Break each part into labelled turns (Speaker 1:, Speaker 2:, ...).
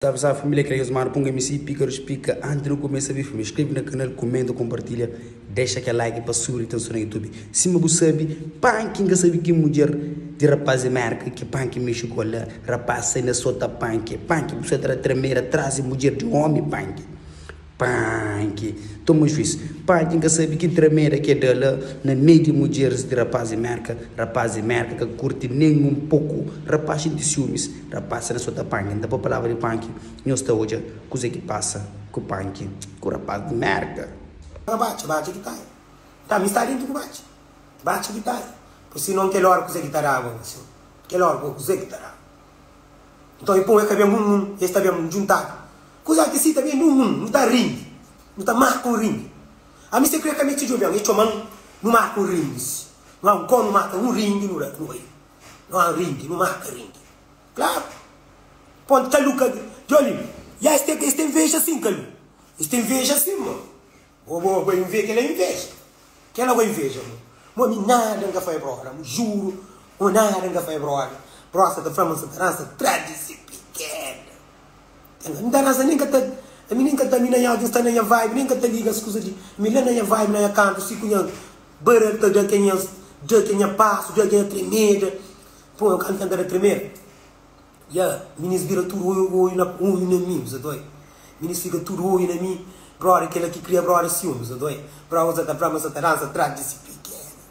Speaker 1: Ta avisa família ki alges manda pa un msg píkaru splika antis di nu kumesa bi filmi skrebe na kanal kumenta konpartilha dexa kel like pa subi di tenson na youtube sima bu sabi panki n ka sabi ki mudjer di rapaz di merka ki panki mexi ku el la rapaz sai na sota panki panki bu sai ta da tramera tras di mudjer di omi panki Panki, toma juiz. Panki n ka sabi ki trameda ki e da la na mei di mudjeris di rapaz di Merka. Rapaz di Merka ka kurti nen un poku. Rapaz xinti siumis. Rapaz si na sota Panki, n ta pa palavra di Panki, nhos ta odja kuze ki pasa ku Panki ku rapaz di Merka. Ka batxa, batxa
Speaker 2: ki tai. Nta mi sta dentu ku batxa, batxa ki tai. Pui si non kel ora kuze ki ta daba un asin. Kel ora ku kuze ki ta daba. Nton e pon e ka ben bun nun, es ta ben bun djuntadu. Kuzal ki si ta ben di un mun nu ta rindi, nu ta marka un rindi. Ami se kre ka mete djobi ami, e txoman nu marka un rindi si nu a un kon nu marka un rindi nu da, nu bai nu a un rindi nu marka rindi klaru. Pon Kalu ka djobi mi, ya es ta, es ta inveja sin Kalu, es ta inveja sin ma Ô bo bai nvê kela inveja. Kela bai nveja bo. Mo mi nada nka fai broda. Mo juro mo nada nka fai broda. Broda sa ta fla ma nsa ta dansa tradi si pikeda. Nka nka nta dansa nen ka ta ami nen ka ta ami na nha sta na nha vibe nen ka ta liga es kuza di ami la na nha vibe na nha kantu si ku nhas bada ta da ke nhas da ke nha pasu da ke nha tremeda. Pô nka nka nta da tremeda. Ya, minus bira tudu oiu oiu na oiu na mi, usa doi Minus fika tudu oiu na mi Brother kela ki kria brother siumi, usa doi Brother usa ta bra ma sa ta dansa atrás di si pikena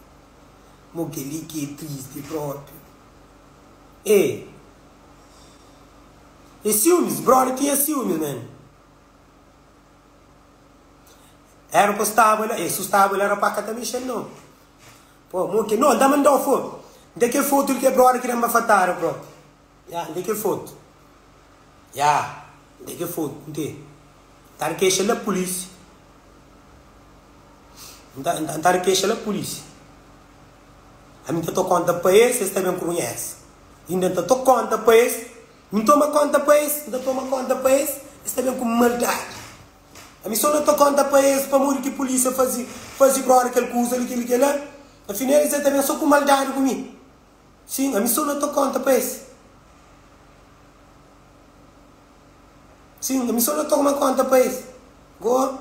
Speaker 2: Mo keli ki e tristi propi e E siumis, brother tinha siumis na mi Era pa staba la e sustaba el Era pa ka ta mexel no. Bro, mo ke no, dama ndao foto. Nda ke foto di ke brother ki da nba fatada bro. Ya, nda ke foto. Ya, nda ke foto. Nte, nta di kexa la polisi. Nta, nta, nta di kexa la polisi. Ami nta to konta pa es, es ta ben krunhesa. Inda nta to konta pa es. Mi ntoma konta pa es, nta toma konta pa es, es ta ben ku maldadi. Ami so na ta konta pa es pamodi ki pulisia fazi fazi brora kel kuza li kel li kel la. Afinel es é ta ben so ku maldadi ku mi. Sin, ami so na ta konta pa es. Sin, ami so na ta toma konta pa es. Go.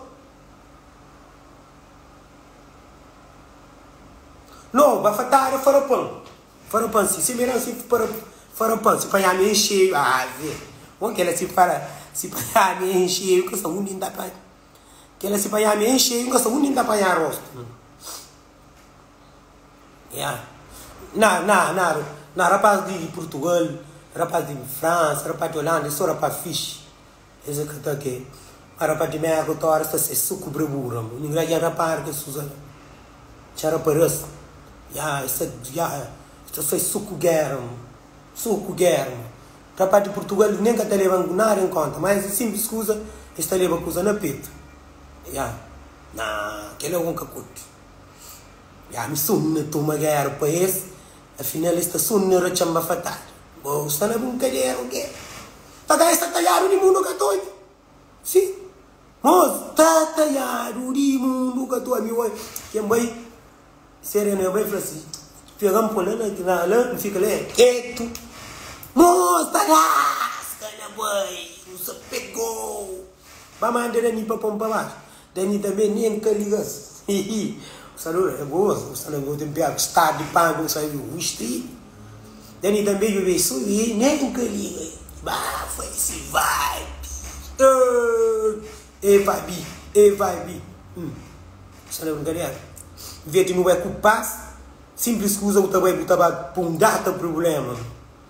Speaker 2: No, ba fatada farapan. Farapan si si meran si farapan si panhami en xeiu ave o kela si fara si panhami en xeiu ka sa undi nta panha kela si panhami en xeiu nka sa undi nta panha rostu ya na na na na rapaz di purtugal rapaz di fransa rapaz di olanda e so rapaz fixi Es é ka ta ke pa ra pa di mea ku tora sta se suku brebura mu ngra ja ra para ke suza la ca ra pa ras ya es ta ya es ta sai suku gera mu suku gera mu ra pa di purtugal nen ka ta leba nada en konta ma es é simplis kuza es ta leba kuza na petu ya na ke la un ka kutu ya mi sonu na tuma gera pa es afinal es ta sonu na ra txanba fatal bo sta na bin kadera o ke. Tata esta taiadu di mundu katoiku si moz ta taiadu di mundu katu ami oi ken bai serena e bai fla si pegan po la na na la mi fika la ketu moz ta laska na bai nu sa pegou ba mandera mi pa pon pa baxu Dani ta ben e N ka liga-s Hihi Bu sta dor é goa Bu sta na goa ten piâ ku stadu di pâ Ku N sai di Wish ti Dani ta beju be su i Nen N ka liga i Ba foi di si vibe Êêêê Ê vibe i Ê vibe i Hum Bu sta na brinkadera N vê ti nu bai ku pas Simplis kuza bu ta bai bu ta ba P'un data prubléma.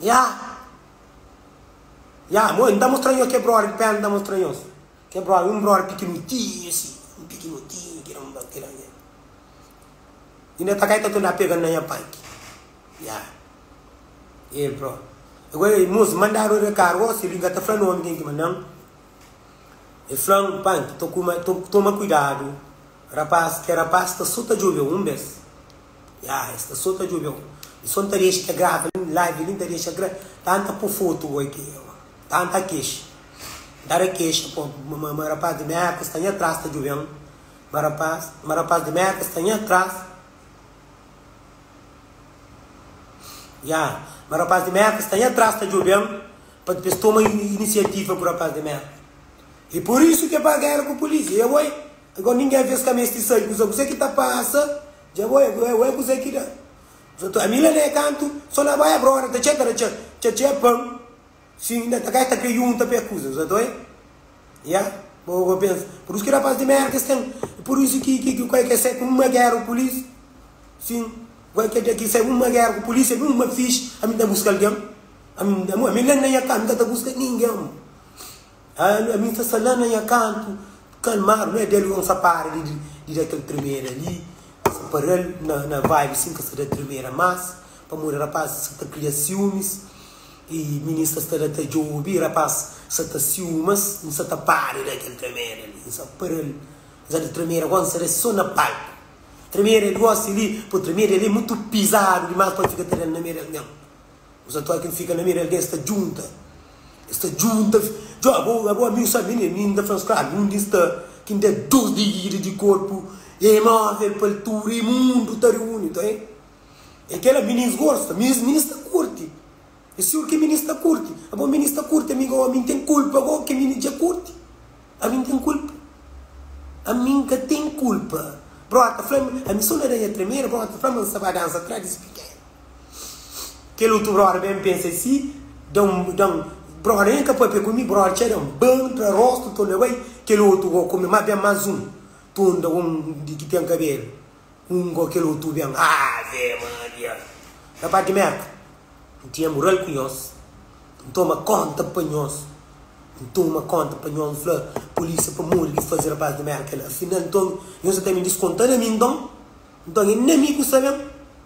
Speaker 2: Ya! Ya! Mo e n ta mostra nhos kel brother ki pena n ta mostra nhos. Kel brother, un brother pikinutinhu asi, un pikinutinhu ki da un bate la. I n ta kai ta tenta pega-m na nha panki. Ya! E el próprio. E gosi el mosi mandadu e recar gosi el inga ta fla nomi ken ki ma nan. El fla-m, Panki, toma kuidadu, rapaz, kel rapaz sta so ta djobe-u un bes. Ya es ta so ta djobe un. E son ta dexa ta grava nin live nin ta dexa gra tan ta po foto goi ki e ma tan ta kexa nta da kexa po ma ma rapaz di merka sta nha tras ta djoben ma rapaz ma rapaz di merka sta nha tras ya ma rapaz di merka sta nha tras ta djoben pa dpes toma inisiativa ku rapaz di merka e por isu ke paga el ku polisia ya goi Agora ninguém vê-s ka meste sai kuza kuzê ki ta pasa dja bo êgo êgo ê kuzê ki da Zô ta ami la nê kantu sô na bai abro ora ta txê ta da txê txê txê pan si inda ta kai ta krê yunta pê kuza Zô ta oi ya bo bo pensa purus ki rapaz di merda es ten i pur isu ki ki ki kai ke sai ku uma gera ku polis si goi ke ke sai uma gera ku polis ami uma fix ami ta buska algen ami ami ami la na nha ka ami ka ta buska ninguém. Ami n ta sta la na nha kantu kalmadu, na del yo n sa para di di da kel tremeda li, n sa paral na vibe sin ka sa da tremeda mas, pamodi rapaz sa ta kria siumis y minin sa sta la ta djobi, rapaz sa ta siumas, n sa ta para di da kel tremeda li, n sa paral, n sa da tremeda gó n sa da so na palku, tremeda di gosi li, po tremeda li mutu pizadu dimas pa fika ta da-l na meda algen. Nos atua ki N fika na Mira, algen sta djunta. Es sta djunta, Djobe, ô abo ami, N sabe mi nen, N ta fla-m, Skrabi, undi N sta? Ki N da dos divida di korpu e móvel pa altura e mundu ta riuni, ta e. E kel la mi nen sgorsa, mi es mi nen sta kurti. E siur ki mi nen sta kurti, abo mi nen sta kurti, ami ô ami N ten kulpa go ki mi nen dja kurti? Ami N ten kulpa? Ami N ka ten kulpa. Brota fla-m, ami so na da nha tremera, brota fla-m, ma N sa ba dansa atrás di si piken. Kel otu brother ben pensa i si da un da un brother N ka papia ku mi brother txeu da un ban tra rostu to lebai kel otu go ku mi ma ben mas un tun da un di ki ten kabelu un go kel otu ben ave maria na pa di merka N tinha mural ku nhos N toma konta pa nhos N toma konta pa nhos N fla polisia pamodi ki faze rapaz di merka la afinal nton nhos sa ta ben diskonta na mi nton nton N na mi ku sa ben.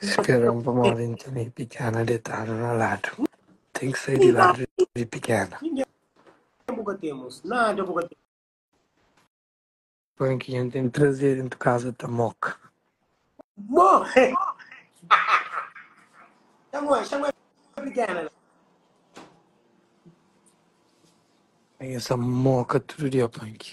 Speaker 3: Spera un pamodi n tene pikéna detadu na ladu Ten ki sai di ladu di pikéna
Speaker 2: Pon
Speaker 3: ki dja ten três dentu kaza ta moka Nha sa moka tudu dia Pon ki.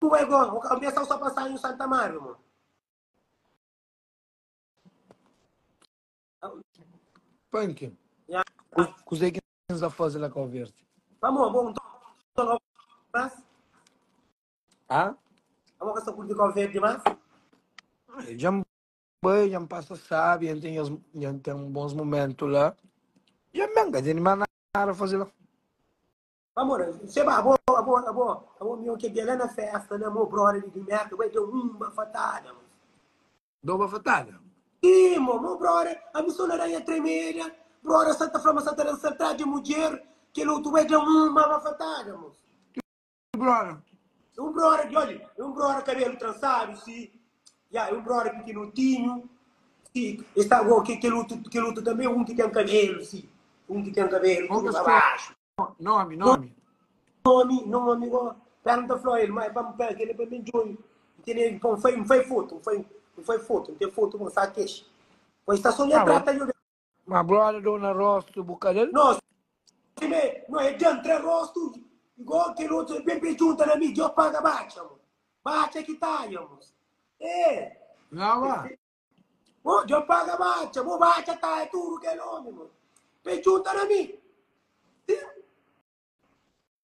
Speaker 3: Ué go, bu ka mestau sa pa sanhu
Speaker 2: Santa Mária mon? Pankin,
Speaker 3: Ya. kuzê ki N sta faze la Kau Verdi? Amor, bo un
Speaker 2: tonton
Speaker 3: Kau Verdi más? Hã? Amor, ka sa
Speaker 2: kurti Kau Verdi más? Ai, dja N
Speaker 3: bai, dja N pasa sábi, dja N ten nhas, dja N ten bons momentu la. Dja N ben, ka ten di más nada faze la. Amor,
Speaker 2: seba, abo, abo, abo, abo, mi oke bia lá na festa, na mo brother de merda, vai deu um bafatada, mo. Dou
Speaker 3: bafatada? Sim, mo, mo
Speaker 2: brother, a mi só na ranha tremeda, brother sa ta flama, sa ta dança atrás de mulher, que luto vai deu um bafatada, mo. Que brother? Um brother, olha,
Speaker 3: um
Speaker 2: brother cabelo trançado, sim, Ya, é un brother pikinotinhu, si, e sta go, ke, kel otu, kel otu tanbe é un ki ten kabelu, si, un ki ten kabelu
Speaker 3: Como tudu que pa se baxu. chama? Nome, nome.
Speaker 2: Nomi, nomi, go, pera N ta fla el, ma é pa, pa, kel é pa mi djobe, N tene, N fai, N fai fotu, N fai, N fai fotu, N ten fotu bon, sa kexa, poi sta so nha Tá bom. trata yo.
Speaker 3: Ma
Speaker 2: broda
Speaker 3: dona rostu bu kadal. Nos Tximé
Speaker 2: no é djantra rostu Igó kel otu é bebe djunta na mi Djo paga batxa mo Batxa ki taia mo Êê Nova.
Speaker 3: Mo Djo
Speaker 2: paga batxa mo Batxa taia tudu kel omi mo Pe djunta na mi Sim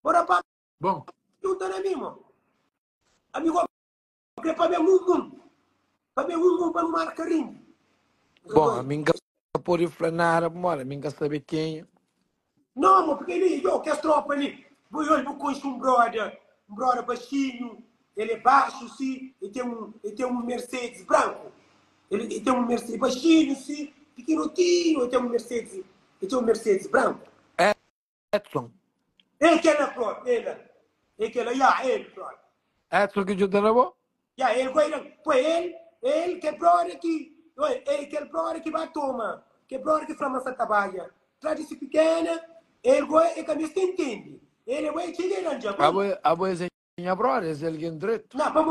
Speaker 2: Mo rapaz Bon. djunta
Speaker 3: na mi mo
Speaker 2: Ami go. Be pa ben un un. Pa ben un un pa nu marka rinha. Bom, a
Speaker 3: mim ka pode fla nada bu moda, mim ka sabe kenha. Não,
Speaker 2: mo porque ele, yo, que tropa ali. Bo olha, bo conhece um brother, um brother baixinho, ele é baixo, sim, ele tem um, ele tem um Mercedes branco. Ele, ele tem um Mercedes baixinho, sim, pequenotinho, ele tem um Mercedes, ele tem um Mercedes branco. Edson.
Speaker 3: É
Speaker 2: kela prod, ela. É kela, ya, el prod. Edson ki djuda
Speaker 3: na bo? Ya, el ku Aidan.
Speaker 2: Poi el, el, kel prod ki, oi, é kel prod ki ba toma, kel prod ki fla ma sa ta bai ya. Tra di si pikena, el ku e ka mes ta intendi. El e bo e txiga e randja. Abo, abo es é
Speaker 3: nha prod, es é algen dretu. Na, pa bo.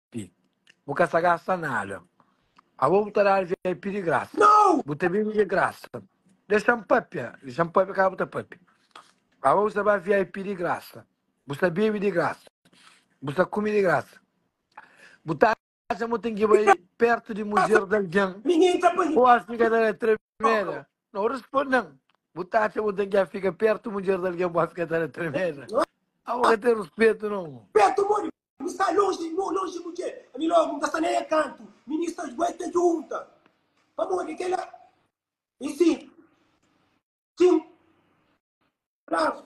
Speaker 3: Pi. Bu ka sa gasta nada. Abo bu ta dal vip di grasa. Nau. Bu ta bibi di
Speaker 2: grasa.
Speaker 3: Dexam papia. Dexam papia ka bu ta papia. Abo bu sa ba vip di grasa. Bu sa bibi di grasa. Bu sa kumi di grasa. Bu ta atxa ma bu ten ki bai pertu di mujer di algin o a
Speaker 2: fika ta da
Speaker 3: tremeda? Nau. Ruspondan. Bu ta atxa ma bu ten ki a fika pertu di mujer di algin o a fika ta da tremeda? Abo ka ten ruspetu no. Pertu modi Mi
Speaker 2: sta lonji, mo lonji mudje ami logu mi ka sta na e kantu ministers bu e ta djunta pamodi kela e sin kin bravo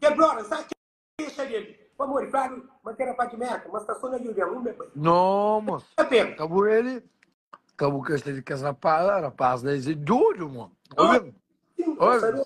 Speaker 2: ke brother nsa kexa del pamodi fladu ma ke rapaz di merka ma sta so na union un be bai No mos, ta
Speaker 3: pena ka bu ele, ka bu kesta di kes rapaz la, rapaz la es e dodu mo, obi, Sim, obi. pensador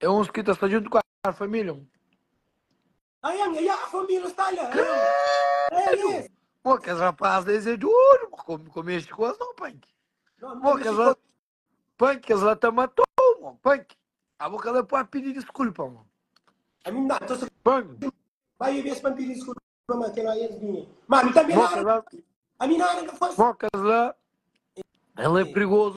Speaker 3: É uns ki ta sta djuntu ku a família, un. Anhan, e a família sta
Speaker 2: la. Krédu! Mo, kes rapás
Speaker 3: la es é djuntu, mo, kome, kome mexi ku es, nau, panki. Mo, kes la, panki, kes la ta mata-u, mo, panki. Abo ka bai pa pidi diskulpa, mo. Ami nda ta so.
Speaker 2: Panki. Bai e bes pa pidi diskulpa, ma kel la es binha. Ma ami tanbe nada. Mo, kes la. Ami
Speaker 3: nada ka fase. Mo, kes la, el é prigozu.